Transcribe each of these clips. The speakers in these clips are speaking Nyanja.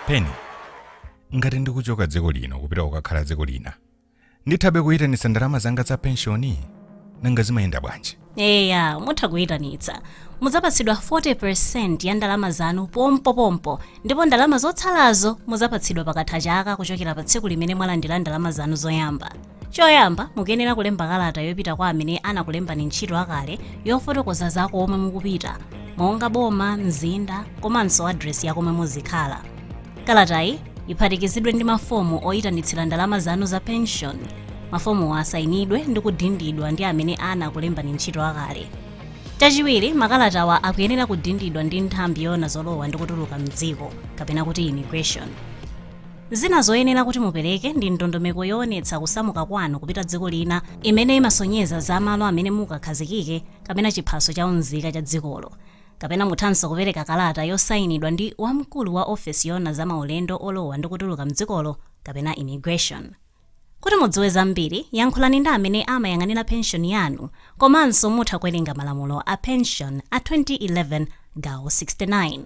yeni ngati ndikuchoka dziko lino kupita kukakhala dziko lina ndithabe kuyitanitsa ndalama zanga za penshoni nanga zimayenda bwanji eya mutha kuyitanitsa mudzapatsidwa 40% ya ndalama zanu pompopompo ndipo ndalama zotsalazo mudzapatsidwa pakatha chaka kuchokera pa tsiku limene mwalandira ndalama zanu zoyamba choyamba mukuyenera kulemba kalata yopita kwa amene anakulembani ntchito akale yofotokoza za komwe mukupita monga boma mzinda komanso adresi ya komwe muzikhala Kalatayi iphatikizidwe ndi mafomu oyitanitsira ndalama zanu za penshoni. Mafomuwa asayinidwe ndi kudindidwa ndi amene anakulembani ntchito akale. Chachiwiri, makalatawa akuyenera kudindidwa ndi nthambi yoona zolowa ndi kutuluka m'dziko, kapena kuti immigration. Zina zoyenera kuti mupereke ndi ndondomeko yoonetsa kusamuka kwanu kupita dziko lina imene imasonyeza za malo amene mukakhazikike kapena chiphaso cha unzika cha dzikolo. Kapena muthanso kupereka kalata yosainidwa ndi wamkulu wa ofesi yoona za maulendo olowa ndi kutuluka m'dzikolo kapena immigration. Kuti mudziwe zambiri, yankhulani ndi amene amayang'anira penshoni yanu komanso mutha kuwerenga malamulo a penshoni a 2011 gawo 69.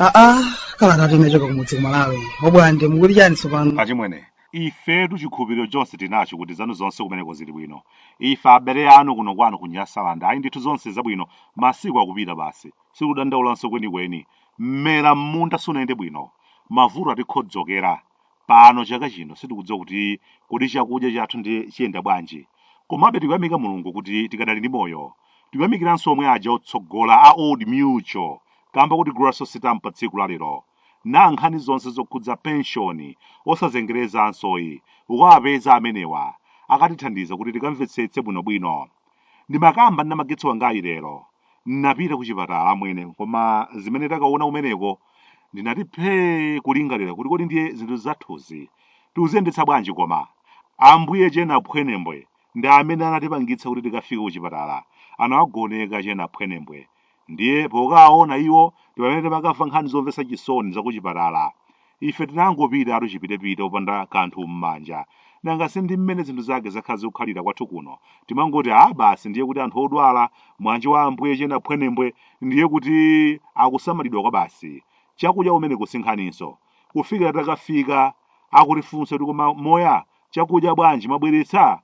aa kalata timechoka kumudzi kumalawi abwande mukuti chani tsopano achimwene ifetu chikhulupiriro chonse tinacho kuti zanu zonse kumeneko zili bwino ife abale anu kuno kwanu kunyasalanda ayi ndithu zonse zabwino masiku akupita basi Sikudandaulanso kwenikweni. Mmera m'munda sunayende bwino. Mavuto atikhodzokera. Pano chaka chino sitikudziwa kuti kodi chakudya chathu ndiye chiyenda bwanji. Komabe tikuyamika Mulungu kuti tikadali ndi moyo. Tikuyamikiranso omwe aja otsogola a Old Mutual kamba kuti Grasso Sitampa tsiku la lero. Na nkhani zonse zokhudza penshoni osazengerezansoyi. Ukawapeza amenewa akatithandiza kuti tikamvetsetse bwinobwino. Ndimakamba ndi mnamagetsi wangayu lero. N'napita kuchipatala amwene, koma zimene takaona kumeneko ndinati phee kulingalira kuti kodi ndiye zinthu zathuzi tikuziyendetsa bwanji koma? Ambuye che Naphwenembwe ndi amene anatipangitsa kuti tikafike kuchipatala. Anawagoneka che Naphwenembwe. Ndiye pokawaona iwo ndi pamene timakamva nkhani zomvetsa chisoni zakuchipatala. Ife tinangopita tu chipitepite opanda kanthu m'manja. Nanga si ndi mmene zinthu zake zakhala zikukhalira kwathu kuno. Timangoti, ah basi ndiye kuti anthu odwala, mwana nji wa Ambuye che Naphwenembwe, ndiye kuti akusamalidwa kwabasi. Chakudya umeneku si nkhaninso. Kufikira titakafika, akutifunsa kuti koma moya, chakudya bwanji, mwabweretsa?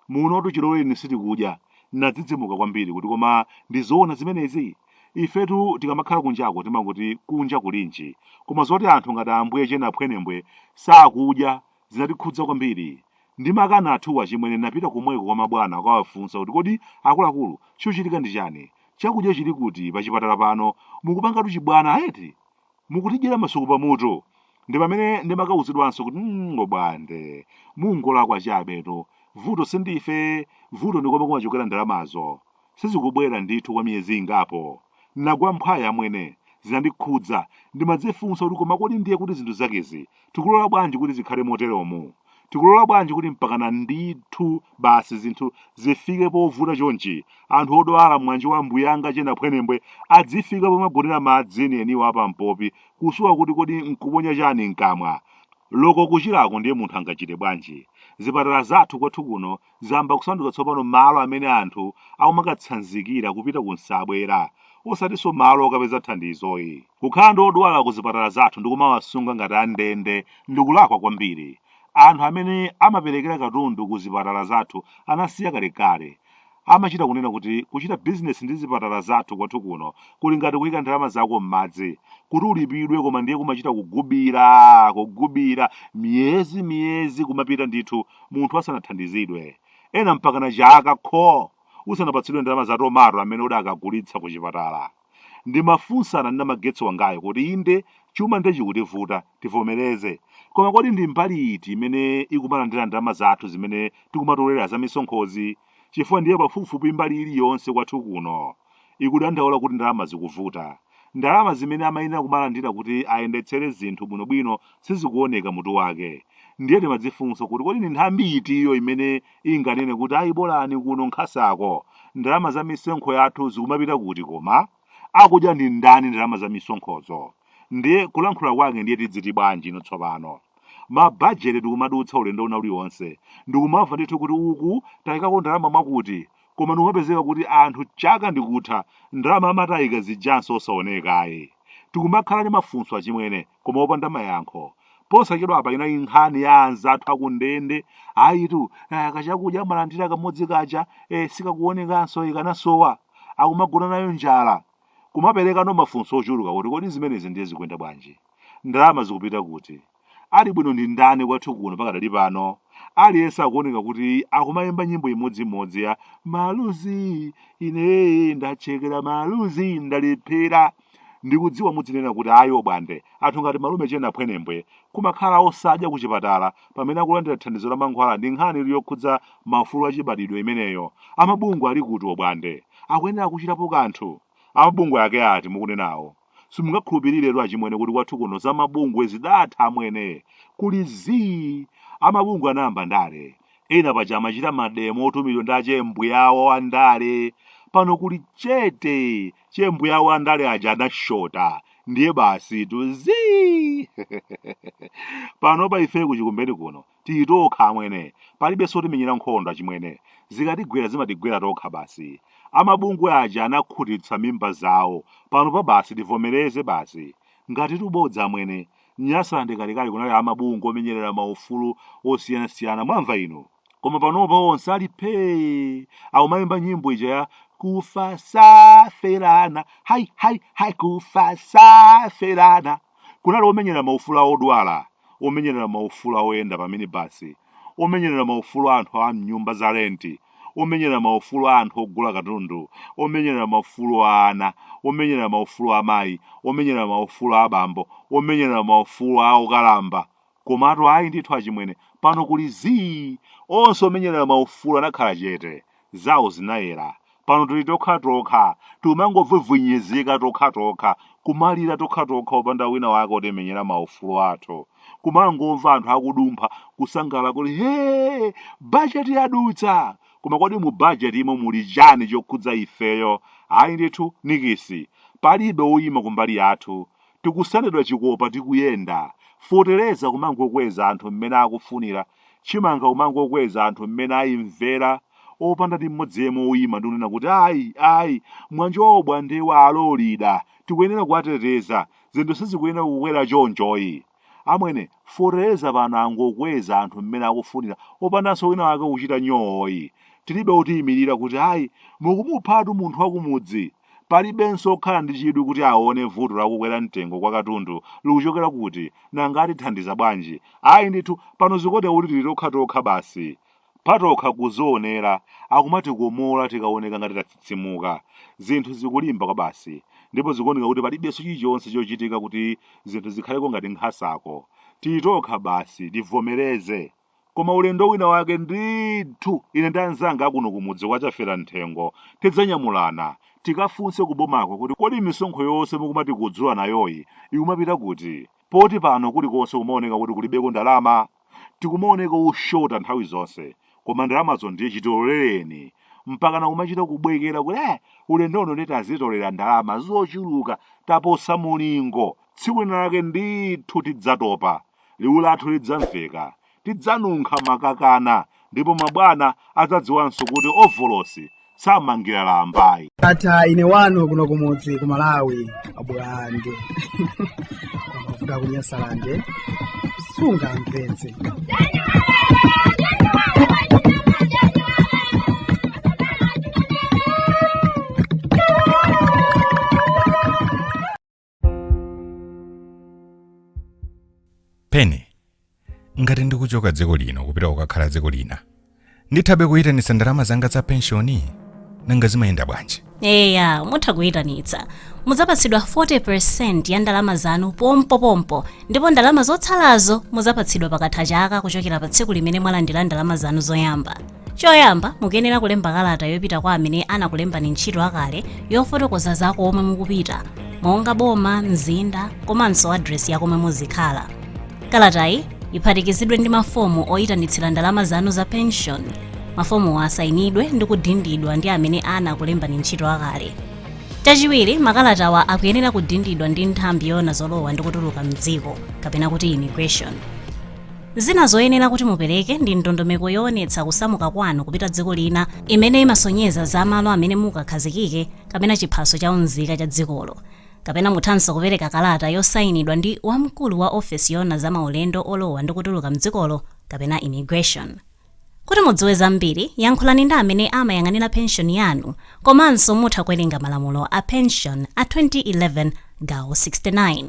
Munotu chilowereni sitikudya. Nadzidzimuka kwambiri kuti koma ndi zoona zimenezi? Ifetu tikamakhala kunjako timangoti kunja kulinji. Koma zoti anthu ngati Ambuye che Naphwenembwe sakudya zinatikhudza kwambiri. Ndi makanathuwa achimwene napita komweko kwa mabwana kukawafunsa kuti kodi akuluakulu chikuchitika ndi chani? Chakudya chili kuti pachipatala pano? Mukupangatu chibwana eti? mukutidyera masuku pamutu ndi pamene ndimakauzidwanso kuti bwande mungolakwa chabetu vuto sindife vuto ndi komwe kumachokera ndalamazo sizikubwera ndithu kwa miyezi ingapo nagwa mphwayi amwene zinandikhudza ndimadzifunsa kuti koma kodi ndiye kuti zinthu zakezi tikulola bwanji kuti zikhale moteromo tikulola bwanji kuti mpakana ndithu basi zinthu zifike povuta chonchi anthu odwala mwanji wa mbuyanga che naphwenembwe adzifika pomagonera madzi enieniwo apampopi kusowa kuti kodi nkuponya chani mkamwa loko kuchirako ndiye munthu angachite bwanji zipatala zathu kwathu kuno zayamba kusanduka tsopano malo amene anthu akumakatsanzikira kupita ku nsabwera, osatinso malo okapeza thandizoyi. Kukhala ndi odwala ku zipatala zathu ndi kumawasunga ngati a ndende ndi kulakwa kwambiri. Anthu amene amaperekera katundu ku zipatala zathu anasiya kalekale. Amachita kunena kuti kuchita bizinesi ndi zipatala zathu kwathu kuno kuli ngati kuyika ndalama zako m'madzi kuti ulipidwe koma ndiye kumachita kugubira, kugubira, miyezi, miyezi kumapita ndithu. munthu asanathandizidwe ena mpakana chaka kho usanapatsidwe ndalama za tomato amene udakagulitsa ku chipatala ndimafunsana ndi namagetsi wangayo kuti inde chuma ndiye chikutivuta tivomereze koma kodi ndi mbali iti imene ikumalandira ndalama zathu zimene tikumatolera za misonkhozi chifukwa ndiye pafupifupi mbali iliyonse kwathu kuno ikudandaula kuti ndalama zikuvuta. Ndalama zimene amayenera kumalandira kuti ayendetsere zinthu bwinobwino sizikuoneka mutu wake. Ndiye timadzifunsa kuti kodi ndi nthambi itiyo imene inganene kuti ayi bolani kuno nkhasako? Ndalama za misonkho yathu zikumapita kuti koma? akudya ndi ndani ndalama za misonkhozo ndiye kulankhula kwake ndiye tidziti bwanji ino tsopano mabajeti ndikumadutsa ulendo wina uliwonse ndikumamva ndithu kuti uku tayikako ndalama mwakuti koma ndikumapezeka kuti anthu chaka ndikutha ndalama amati aika zijanso osaonekayi tikumakhala ndi mafunso achimwene koma opanda mayankho posachedwa apa inali nkhani ya anzathu akundende ayitu kachakudya amalandira kamodzi kaja sikakuonekanso ikanasowa akumagona nayo njala kumaperekano mafunso ochuluka kuti kodi zimenezi ndiye zikuyenda bwanji ndalama zikupita kuti ali bwino ndi ndani kwathu kuno pakadali pano aliyense akuoneka kuti akumayimba nyimbo imodzimodzi ya maluzi ine ndachekera maluzi ndalephera Ndikudziwa mudzinena kuti ayi obwande, anthu ngati malume che Naphwenembwe kumakhala osadya ku chipatala pamene akulandira thandizo la mankhwala ndi nkhani ili yokhudza maufulu achibadidwe imeneyo, amabungwe ali kuti obwande? Akuyenera kuchitapo kanthu? Amabungwe ake ati mukunenawo? Simungakhulupiriretu achimwene kuti kwathu kuno za mabungwe zidatha amwene, kuli zii! Amabungwe anayamba ndale, ena paja amachita mademo otumidwa ndi achembuya awo a ndale, pano kuli chete! che mbuya awo andale aja anashota ndiye basi tu zii panopa ife kuchikumbeni kuno titokha amwene palibenso otimenyera nkhondo achimwene zikatigwera zimatigwera tokha basi amabungwe aja anakhutitsa mimba zawo panopa basi tivomereze basi ngatitu bodza amwene nyasalande kalekale kunali amabungwe omenyerera maufulu osiyanasiyana mwamva inu Koma panopa onse ali phee akumayimba nyimbo ija ya kufa saferana hai hai hai kufa saferana kunali omenyerera maufulu a odwala omenyerera maufulu oyenda pamene basi omenyerera maufulu a anthu a mnyumba za renti omenyerera maufulu a anthu ogula katundu omenyerera maufulu a ana omenyerera maufulu a amayi omenyerera maufulu a abambo omenyerera maufulu a okalamba Komatu ayi ndithu achimwene, pano kuli zii! Onse omenyerera maufulu anakhala chete. Zawo zinayera. Pano tili tokhatokha, tikumangovwivwinyizika tokhatokha, kumalira tokhatokha opanda wina wake otimenyera maufulu athu. Kumangomva anthu akudumpha, kusangalala kuti hee! Bajeti yadutsa! Koma kodi mu bajetimo muli chani chokhudza ifeyo? Ayi ndithu nikisi! Palibe woyima kumbali yathu. tikusendedwa chikopa tikuyenda, fetereza kumangokweza anthu mmene akufunira, chimanga kumangokweza anthu mmene ayimvera opanda ndi mmodzi yemwe oyima ndi kunena kuti ayi ayi mwanjowa obwandewa alolida tikuyenera kuwateteza zinthu sizikuyenera kukwera chonchoyi amwene fetereza pano angokweza anthu mmene akufunira opandanso wina wake kuchita nyooyi tilibe otiyimirira kuti ayi mukumuphatu munthu wakumudzi Palibenso wokhala ndi chidwi kuti aone vuto la kukwera mtengo kwa katundu likuchokera kuti, nanga atithandiza bwanji? Ayi ndithu, pano zikuoneka kuti tili tokhatokha basi. Potokha kudzionera, akumatikomola tikaoneka ngati tatsitsimuka. Zinthu zikulimba kwabasi, ndipo zikuoneka kuti palibenso chilichonse chochitika kuti zinthu zikhaleko ngati nkhasako. Tili tokha basi, tivomereze. Koma ulendo wina wake ndithu ine ndi anzanga akuno kumudzi kwa Chafera Mthengo tidzanyamulana tikafunse kubomako kuti kodi misonkho yonse mukumatikudzula nayoyi ikumapita kuti? Poti pano kulikonse kumaoneka kuti kulibeko ndalama. Tikumaoneka oshota nthawi zonse. Koma ndalamazo ndiye chitolereni. Mpakana kumachita kubwekera kuti eh, ulendo uno ndiye tazitolera ndalama zochuluka taposa mulingo. Tsiku lina lake ndithu tidzatopa. Liwu lathu lidzamveka. Tidzanunkha makakana, ndipo mabwana adzadziwanso kuti ovolosi samangira lamba ayi. Ata ine wanu kuno kumudzi ku Malawi abwande mavuta kunyasalande sunga mpenzi pene ngati ndikuchoka dziko lino kupita kukakhala dziko lina ndithabe kuyitanitsa ndalama zanga za penshoni nanga zimayenda bwanji eya mutha kuyitanitsa mudzapatsidwa 40 ya ndalama zanu pompopompo ndipo ndalama zotsalazo mudzapatsidwa pakatha chaka kuchokera pa tsiku limene mwalandira ndalama zanu zoyamba choyamba mukuyenera kulemba kalata yopita kwa amene anakulembani ntchito akale yofotokoza za komwe mukupita monga boma mzinda komanso adresi ya komwe muzikhala kalatayi iphatikizidwe ndi mafomu oyitanitsira ndalama zanu za pension mafomuwa asayinidwe ndi kudindidwa ndi amene anakulembani ntchito akale chachiwiri makalatawa akuyenera kudindidwa ndi nthambi yoona zolowa ndi kutuluka mdziko kapena kuti immigration Zina zoyenera kuti mupereke ndi ndondomeko yoonetsa kusamuka kwanu kupita dziko lina imene imasonyeza za malo amene mukakhazikike kapena chiphaso cha unzika cha dzikolo. Kapena muthanso kupereka kalata yosainidwa ndi wamkulu wa ofesi yoona za maulendo olowa ndi kutuluka m'dzikolo kapena Immigration. Kuti mudziwe zambiri, yankhulani ndi amene amayang'anira penshoni yanu komanso mutha kuwerenga malamulo a penshoni a 2011 gawo 69.